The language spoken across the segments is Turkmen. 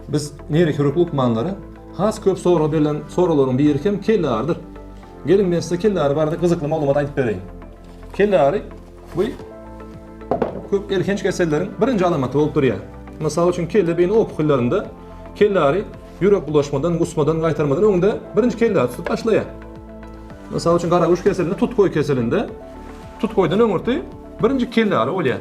Biz neyrohirurg lukmanlary has köp sorag berlen soraglaryň biri hem kelle arydyr. Geliň men size kelle ary barada gyzykly maglumat aýdyp bereýin. Kelle ary Bu köp elhenç keselleriň birinji alamaty bolup durýar. Mysal üçin, kelle beýni opukyllarynda kellary ýürek bulaşmadan, gusmadan, gaýtarmadan öňde birinji kellary tutup başlaýar. Mysal üçin, garaguş keselinde, tutgoý keselinde tutgoýdan öňürti birinji kellary bolýar.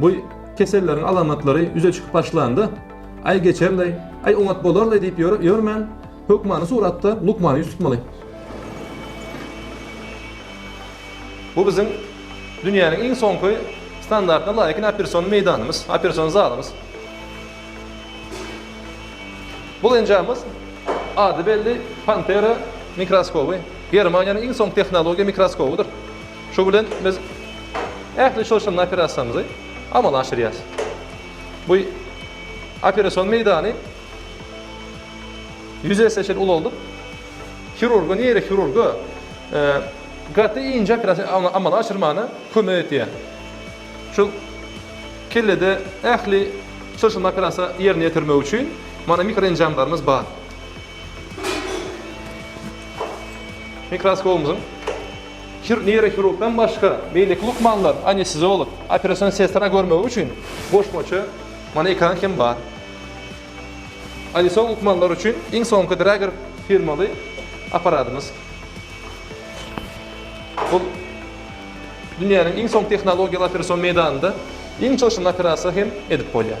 Bu keselleriň alamatlary ýüze çykyp başlanda, Aý geçerleý, aý oňat bolarlaý diýip ýörmän, hökmany suratda lukmana ýüz tutmaly. Bu biziň dünýäniň iň soňky standartyna laýyk operasiýon meýdanymyz, operasiýon zalymyz. Bu enjamymyz ady belli Pantera mikroskoby, Germaniýanyň iň soňky tehnologiýa mikroskobydyr. Şu bilen biz ähli çylşyrymly operasiýamyzy amala aşyrýarys. Bu operasion meýdany ýüz esse çenli ulaldyp, hirurga, neýrohirurga gaty inçe operasiýa amala aşyrmagyna kömek edýär. Şu kellede ähli çylşyrymly operasiýa ýerine ýetirmek üçin mana mikroenjamlarymyz bar. Mikroskopymyzyň Hir neýrohirurgdan başga, beýleki lukmanlar, anesteziolog, operasion sestra görmegi üçin goşmaça mana ekran hem bar. Anesteziolog lukmanlar üçin iň soňky Drager firmaly apparadymyz. Bul dünýäniň iň soňky tehnologiýaly operasion meýdanynda iň çylşyrymly operasiýa hem edip bolýar.